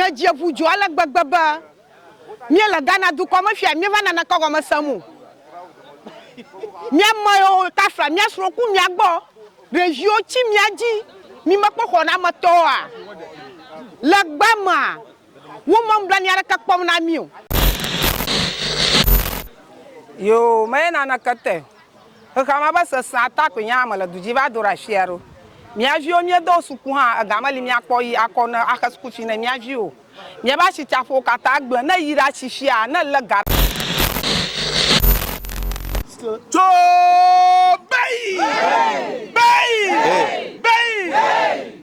Ke dze ƒu dzo ale gbegbe be míele Ghana dukɔ me fia míeva nana ke gɔme sem o. Mía me yiwo tafla mía srɔ̃ ku mía gbɔ ɖeviwo tsi mía dzi mi mekpɔ xɔnametɔwoa? Le gbe mea, wome nublanui aɖeke kpɔm na mí o. Yoo, meye naneke te. Xexea me ƒe sesẽa ta koe nye ame le du dzi va do ɖe afi ya ɖo. Mía viwo míedo wo suku hã ega meli míakpɔ yi akɔ ne axe suku fee ne mía viwo o. Míaƒe asitsaƒewo katã gblẽ ne yi ɖa tsi fia ne le ga. Tso bei! Bei! Bei!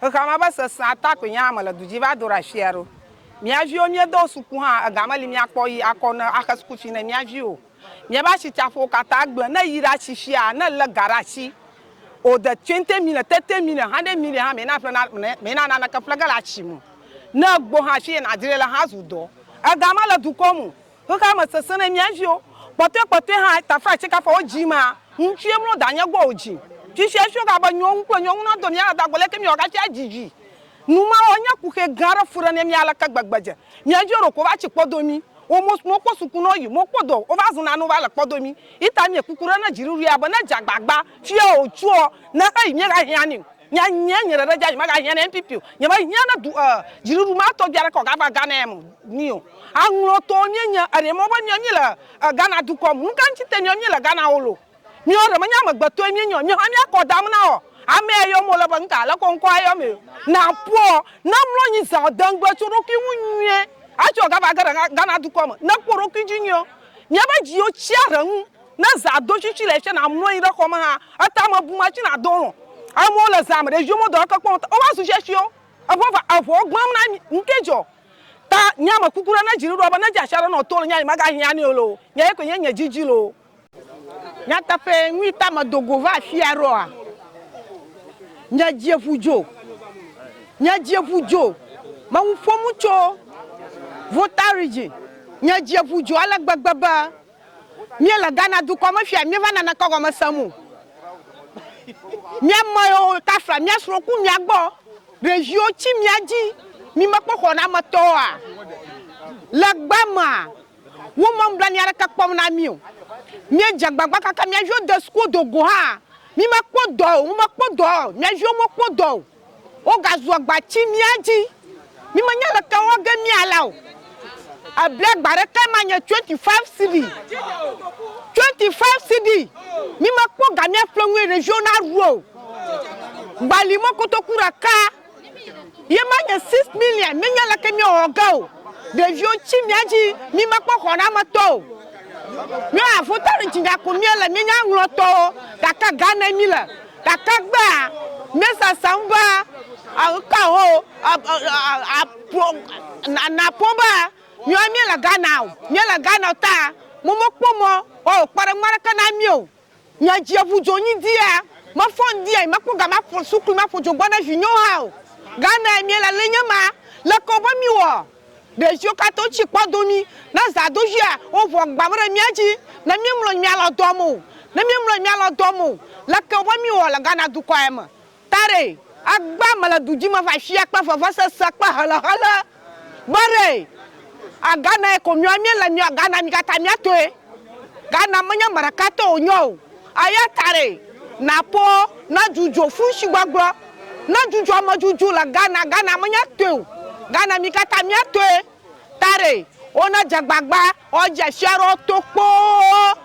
Xexea me ava sesẽ ata koe nye ame le du dzi va do ɖe asia ɖo. Mía viwo míedo wo suku hã ega meli míakpɔ yi akɔ ne axe suku fi ne mía viwo o. Míabe asitsaƒewo katã gblẽ. Ne yi ɖe atsi fia ne le ga ɖe atsi o de twenty million tete million hundred million hã mena ƒle na mena naneke ƒle ge le atsi me o. Ne egbo hã fi ye na dzre le hã zu dɔ. Ega mele dukɔ me o. Xexea me sesẽ ne mía viwo, kpɔtɔe kpɔtɔe hã tafra tsɛ kafa wo dzi mea, ŋutsue mlɔ danye gbɔ o dzi. Fifia efio ga be nyɔnu kple nyɔnu nadɔ mía dada go leke míawɔ hafi adzi vi. Nu ma wɔ nye kuxɛ gã aɖe fu ɖe mía mí aleke gbegbe dze mía viwo ɖeko va tsi kpɔdo mí wo mo mo kpɔ suku nɔ yi mo kpɔdo wo va zuna nu va le kpɔdo mí yi ta mie kuku ɖe ne dziɖuɖuia be ne dze agbagba fia o tsuɔ ne xeyi mí xa hianio Nye nye nye ɖeɖe dza nyemaga hiã ne NPP o nyema hiã ne du eh dziɖuɖu ma tɔgbi aɖeke o gava Ghana ya mo ni o aŋlɔ tɔwo mie nye eɖe mɔ be mia mi le eh Ghana dukɔ mo nuka ŋti te mia mi le Ghana o lo miɔ ɖe menye amegbe tɔe mie nye o mihã mia kɔ dam na ɔ ame ya yɔm ole be ŋka leke ŋkɔ ayɔ mi na ƒɔ na mlɔ nyi zã ɔ de ŋgbe tso ɖokui ŋu nyuie atsɔ gava ge ɖe Ghana dukɔ me ne kpɔ ɖokui dzi nyuie miabe dziwo tsia ɖe ŋu. Ne zã do tsi tsi le tsɛ na mlɔnyi ɖe xɔme hã eta me bu ma tsi na do lɔ. Amewo le zã me ɖe ʒiwo me dɔ eke kpɔn o va zu tsɛ tsio eŋɔ va eŋɔ gbam na mi. Ŋke dzɔ ta nye ame kuku ɖe ne dzi ɖuɖɔ be ne dze asia ɖe nɔ to le nyea nyi ma ga hiã nɛ o le o. Nye ye koe nye nye dzi dzi le o. Nyateƒe nui ta me do go va afia ɖo a? Nye dzi eŋu dzo. Nye dzi eŋu dzo. Me ŋu ƒom tso Volta Region. Nye dzi eŋu dzo ale gbegbe be. Mía le Ghana dukɔ me fia míeva nane kɔ gɔme sem o. Mía me yo tafla mía srɔ ku mía gbɔ ɖeviwo ci mía dzi mi me kpɔ xɔnametɔ a le gba mea wo me nublanui aɖeke kpɔm na mí o. Mía dze agbagba kaka mía viwo de suku do go hã mi me kpɔ dɔ o. Wo me kpɔ dɔ o. Mía viwo me kpɔ dɔ o. Wogazu agba tsi mía dzi. Mi menya leke wɔ ge mía la o. Ebli agba ɖeke ma nye twenty five CD. Twenty five CD. Mi me kpɔ ga mía ƒle ŋue ɖeviwo na ɖu o. Gbali mɔ kotoku ɖeka ye ma nye six million. Mi nya leke mía wɔ ge o. Ɖeviwo tsi mía dzi. Mi me kpɔ xɔ na me tɔ o. Mía wɔ avota ɖe dzi nya ko mía le. Mi nya ŋlɔ tɔwo gake ga ne mi le. Gake egbea míesesem be eke ho naƒo be míawo míele Ghana o. Míele Ghana o ta womekpɔ mɔ woawɔ kpɔɖeŋu aɖeke na mí o. Nye dzi ʋu dzo nyi dia, mefɔ ŋdi ya nyemekpɔ ga maƒo suklu maƒo dzo gbɔ na vinyewo hã o. Ghana ye míele le enye ma, leke wobe míwɔ? Ɖeviwo katã wotsi kpɔ do mí. Ne zã do via, woʋua agbã ɖe mía dzi. Ne míemlɔ anyi míalɔ dɔa me o. Ne míemlɔ anyi míalɔ dɔa me o. Leke wòva míewɔ le Ghana dukɔ ya me? Tare, agbã mele du dzi me va afia kple vevesese kple helehele. Bare, a Ghana ye ko míewɔ. Míele míewɔ Ghana mí katã mía tɔe. Ghana menye ame ɖeka tɔ wònye o. Eya tae nàkpɔ ne dzudzɔ funshigbɔgblɔ, ne dzudzɔ amedzudzu le Ghana, Ghana menye tɔe o, Ghana mi katã mía tɔe, taɖe wone dze gbagba ɔ dzeshia ɖe woto kpoo.